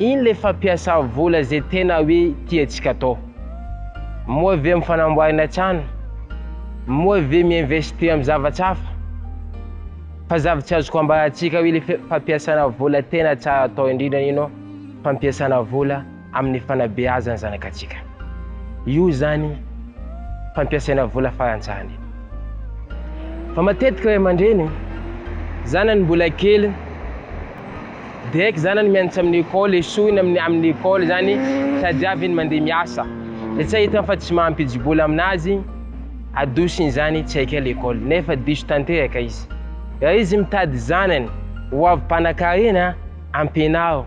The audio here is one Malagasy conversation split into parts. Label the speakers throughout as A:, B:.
A: Iny le fampiasa vola ze tena hoe tiantsika atao. Moa ve am fanamboarana trano? Moa ve mi-investir am zavatra hafa? Fa zavatra azoko ambarantsika hoe le fampiasana vola tena tsara atao indrindra ino? Fampiasana vola aminy fanabeazana zanakatsika. Io zany fampiasaina vola faran tsara indrindra. Fa matetika ray aman-dreny zanany mbola kely, Direct zanany mianatra amin'ny école, esoiny amin'ny amin'ny école zany sady avy iny mandeha miasa. Dia tsy ahitany fa tsy mampidi-bola aminazy, adosony zany tsy haika l'école nefa diso tanteraka izy. Raha izy mitady zanany ho avy mpanakarena, ampianaro.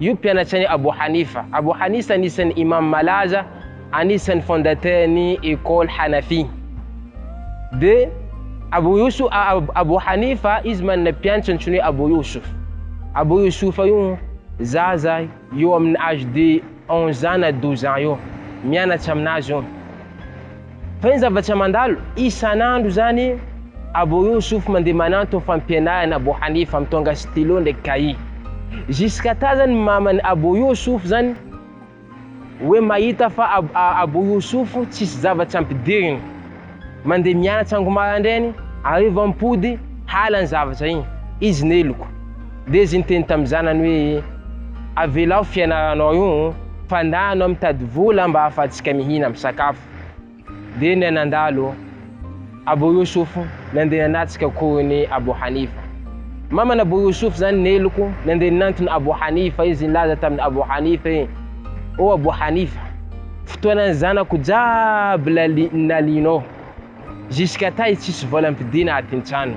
A: Io mpianatry an'i Abu Hanifa. Abu Hanisa anisan'ny Imam malaza, anisan'ny fondateur ny école Hanafi. De Abu Yusuf, Abu Hanifa, izy manana mpianatra antsoiny hoe Abu Yusuf. Abu Yusufa io zaza eo amin'ny âge de 11 ans na 12 ans eo, mianatra aminazy io. Fa iny zavatra mandalo isan'andro izany Abo Youssouf mandeha mananto ny fampianarana Abo Hanifa mitondra stylo ndraiky cahier. Jusqu'à ta zany maman'i Abo Youssouf zany hoe mahita fa Abo Youssouf tsisy zavatra ampidiriny. Mandeha mianatra ango marandrainy, hariva mipody, hala ny zavatra iny. Izy neloko. Dia izy niteny tamin'ny zanany hoe, Avelao fianaranao io, fa ndà anao mitady vola mba ahafahantsika mihina, misakafo. Dia ny anandalo, Abu Yusuf, nandeha nanatrika akorin'i Abu Hanifa. Maman'i Abu Yusuf izany ny heloko, nandeha nanantona Abu Hanifa izy nilaza tamin'i Abu Hanifa hoe, O Abu Hanifa, fotoanan'ny zanako jiaby nalianao, jusqu'à tay tsisy vola ampidiana atintrano.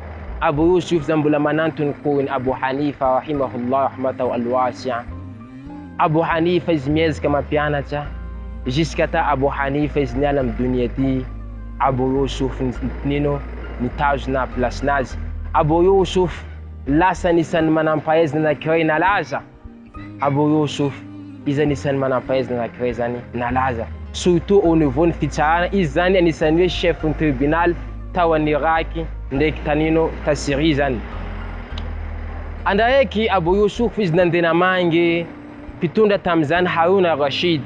A: Abu Yusuf izany mbola manantony koa ny Abu Hanifa rahimahullah rahmatahu al-wasi'a. Abu Hanifa izy miezaka mampianatra, jusqu'à ta Abu Hanifa izy niala amin'ny donia ty, Abu Yusuf nino, nitazona place-nazy. Abu Yusuf lasa anisan'ny manam-pahaizana anankiray nalaza. Abu Yusuf, izay anisan'ny manam-pahaizana anankiray izany nalaza, surtout au niveau ny fitsarana, izy izany anisan'ny hoe chef ny tribunal tao an'i Irak ndraiky tanino ta Syrie izany. Andra araiky Abu Yusuf izy nandeha namangy mpitondra tamin'izany Harun al-Rashid.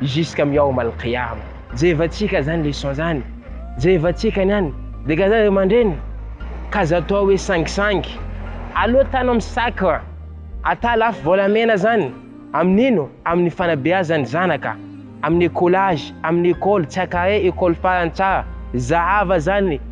A: Jusqu'à mihaoma al-qiyama. Jerevantsika zany leçon zany, jerevantsika ny any de ka zany ry aman-dreny ka aza atao hoe sangisangy, aleo tano amin'ny sac ata lafo volamena zany, amin'ino? Amin'ny fanabeazan'ny zanaka, amin'ny écolage, amin'ny école, tsy akare école farany tsara, zahava zany.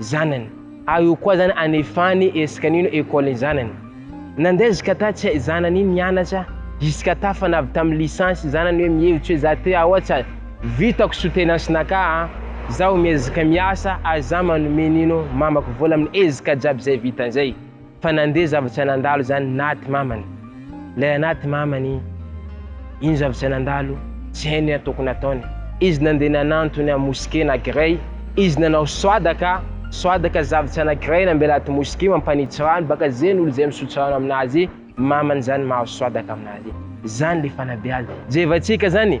A: zanany. Ary io koa zany anefany esika nino école ny zanany. Nandeha zkata tsy hay zanany iny nianatra zkata fa navy tam licence ny zanany hoe mihevitsy hoe za te aohatsa vitako soutenance naka a, zaho miezaka miasa ary za manome nino mamako vola amin ezka jiaby zay vitan zay. Fa nandeha zavatra nandalo zany naty mamany lay anaty mamany iny zavatra nandalo tsy hainy hoe tokony ataony izy nandeha nanantony am mosqué na grey izy nanao soadaka soadaka zavatra na grey nambela aty mosqué mampanitsy rano baka zeny olo zay misotro rano aminazy mamany zany mahazo soadaka aminazy zany le fanabeazana jevatsika zany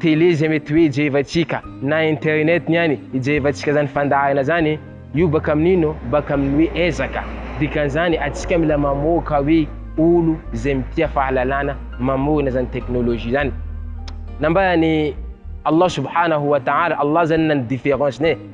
A: télé zay mety hoe jerevantsika na internet ny any ijerevantsika zany fandaharana zany io baka amin'ino baka amin'ny hoe ezaka dikan'izany atsika mila mamoaka hoe olo zay mitia fahalalana mamorona zany teknolojia zany nambaran'i Allah subhanahu wa ta'ala Allah zany na ny différence-ny e